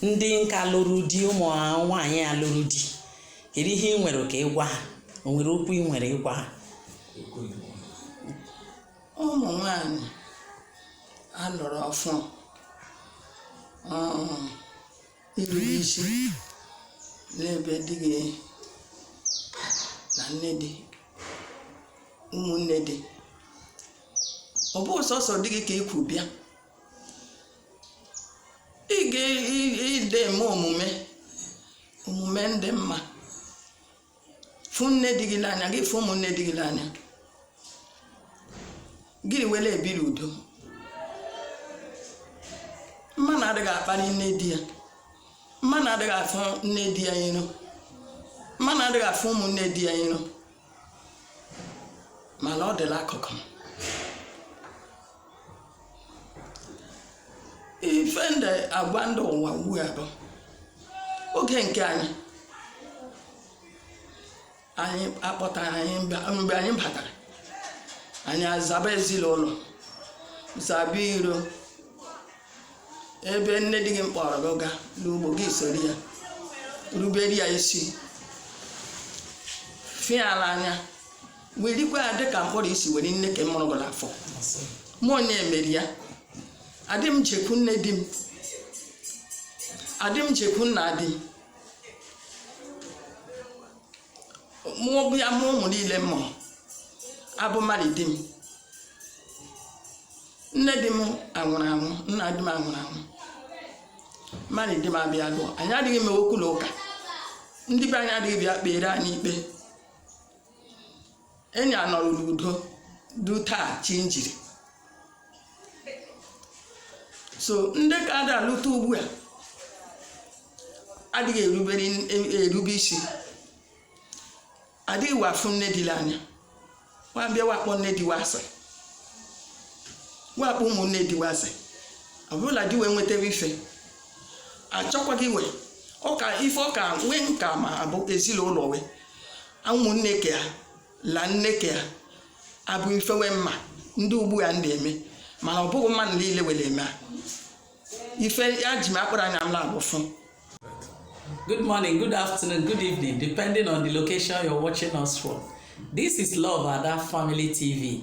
ndị nka lụrụ di ụmụ nwaanyị a lụrụ di kedu ihe ị nwere ka ị gwa ha o nwere okwu ị nwere ịgwa ha ụmụ nwanyị a lụrụ ọfụụ irube isi n'ebe di gị na nne di ụmụnne di ọ bụ sọsọ di gị ka i kwu bịa ị ga-ide eme omume omume ndị mma fụ nne di gị n'anya gị fụ ụmụnne di gị n'anya gị were ebiri udo mmanụ adịghị akparị nne di ya mmanụ adịghị afụ nne di ya iro mmanụ adịghị afụ ụmụnne di ya iro mana ọ dị la akụkọ ife ndị agwa ndị ụwa ugbu a bụ oge nke anyị anyị akpọtara anyị mgbe anyị batara anyị azaba ezinụlọ zaba iro ebe nne di gị kpọrọ gị gaa n'ugbo gị soro ya rubere ya isi fụ ya la anya werekwa ya dịka mkpọrọ i si were nne ke mụrụ gị n'afọ mụ onye emeri ya adị m jekwu nne di m adị m jekwu nna di m mụ bịa mụọ ụmụ niile m mụrụ a bụ mụ la di m nne di m anwụrụ anwụ nna di m anwụrụ anwụ mụ la di m abịa lụọ anyị adịghị eme okwu na ụka ndị be anyị adịghị bịa kpere anyị ikpe anyị anọrọ n'udo du taa chi njiri so ndị ka a da alụta ugbu a adịghị erube isi adịghị wa afụ nne di la anya wa bịa wa akpọ nne di wa asị wa akpọ ụmụnne di wa asị ọ bụ la di we nwetara ife achọkwaghị we ọka ife ọka nwee nka ma abụ ezinụlọ we ụmụnne ke ya la nne ke ya a bụ ife we mma ndị ugbu a ndị eme mana ọ bụghị mmadụ niile were eme a ife eji m akpụrụ anya m naabọ fụ Good morning, good afternoon, good evening, depending on the location you're watching us from. This is Love Ada Family TV.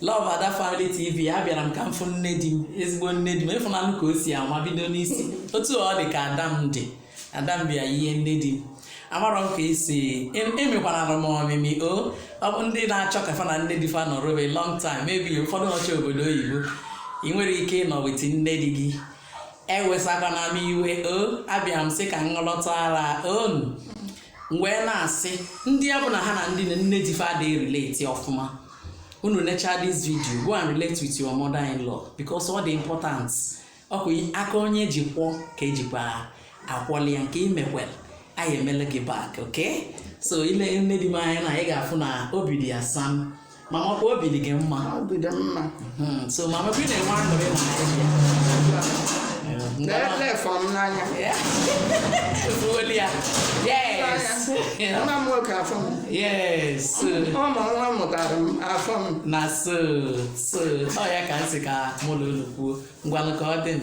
Love Ada Family TV abịara m ka m fụ nne di m ezigbo nne di m ịfụnanụ ka o si anwa bido n'isi otu ọ dị ka ada m dị ada m bịa ihe nne di m amarọ m ka esi emekwana m ọmịmị o ọ bụ ndị na-achọ ka fa na nne di fa nọrọ be long time maybe ụfọdụ nọcha obodo oyibo ị nwere ike ịnọ with nne di gị ewesakwana m iwe o abịa m sị ka mụ lọtaara unu wee na-asị ndị ọ bụla ha na ndị nne di fa adị relate ọfụma unu necha this video go and relate with your mother in law because ọ dị important ọ kwa aka onye ji kwọ ka ejikwa akwọli ya nke imekwele anyị emele gị back okay so ile nne di m anya na ị ga-afụ na obi dị ya sam mama ọ kwa obi dị gị mma obi dị mma hmm, so mama bi na-enwe aṅụrị na Naịjirịa fụ m n'anya efuweli ya yes nwa m nwoke afụ m yes ụmụ nwa mụtara m afụ m na so so ọ ya ka m sị ka mụ na unu kwuo ngwanụ ka ọ dị m